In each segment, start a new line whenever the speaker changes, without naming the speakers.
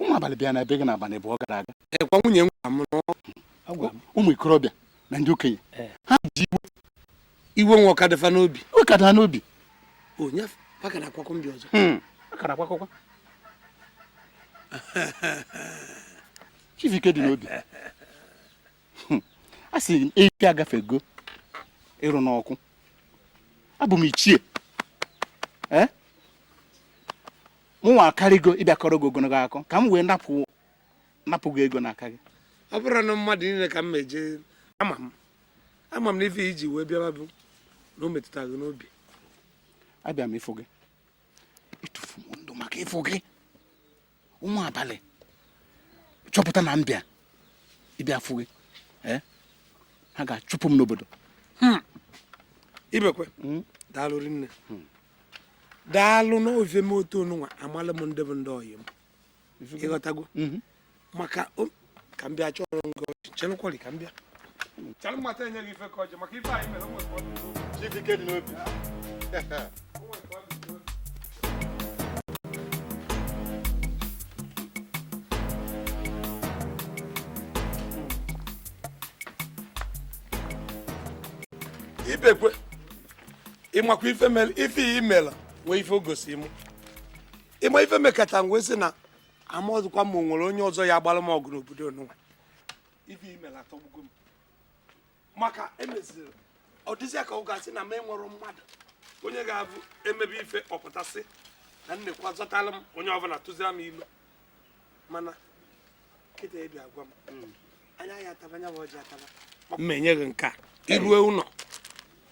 ụmụ abalị bịa na be gị n'abalị abụọ gara aga ọ kwa nwunye m gwara m na ọ- agwa m ụmụ ikorobịa na ndị okenye Eh. ha ji iwe iwe nwa ọka dị fa n'obi iwe ka daa n'obi onye paka na akwakọ mbi ọzọ Hmm. a kara akwakọkwa Chidike dị n'obi Hmm. a sị m efi agafego ịrụ n'ọkụ abụ m ichie Eh? mụnwa akarịgo ịbịa kọrọ gị ogologo akụkọ ka m wee napụ napụ gị ego n'aka gị ọ bụrọ na mmadụ niile ka m eje ama m ama m na ife i ji wee bịa bụ na o metụta gị n'obi abịa m ịfụ gị ịtụfu m ndụ maka ịfụ gị ụmụ abalị chọpụta na m bịa ịbịa fụ gị eh? ha ga-achụpụ m n'obodo hmm. ibekwe hmm? daalụ rinne hmm. daalụ n'ofe m otu onụnwa amalụ m ndị bụ ndị ọyị m ị ghọtago maka o- ka m bịa chọrọ ngọ chelụkwali ka m bịa chalụ mata enye gị ife ka ọjị maka ife anyị mere o nwere ka ọ dị n'obi. Chidike dị n'obi. ibekwe ị makwa ife mere ife a i mela nwe ife o gosi m ị ma ife mekata m wee sị na amarọzikwa m ma o nwere onye ọzọ ya-agbara m ọgụ n'obodo nụwa ife i mela atọgbugo m maka emeziri ọ dịzịa ka ọ ga-asị na m enwerọ mmadụ onye ga-abụ emebe ife ọ pụta sị na nnekwa zọtara m onye ọbụla tụzira m ilu mana kịta ị bịa gwa m hmm. anya ya ataba ya bụ ọjị ataba mma enye gị nke a i rue ụnọ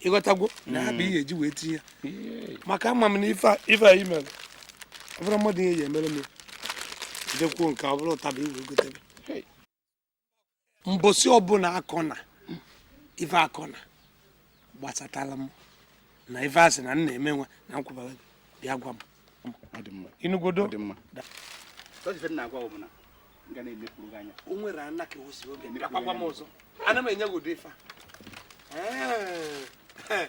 ị ghọtago na ha bụ ihe e ji wee tinye maka ama m na ife a anyị mere ọ bụrụ mmadụ ihe ya emere m ya jekwuo nke ọ bụrụ ụtaba i wee gotebe mbọsị ọbụla akọ na ife akọ na gbasatara m na ife a sị na m na-eme nwa na nkwụbara gị bịa gwa m ị nụgodo o nwere ana ka osi oge bịakwa gwa m ọzọ ana m enye gị ụdị ife a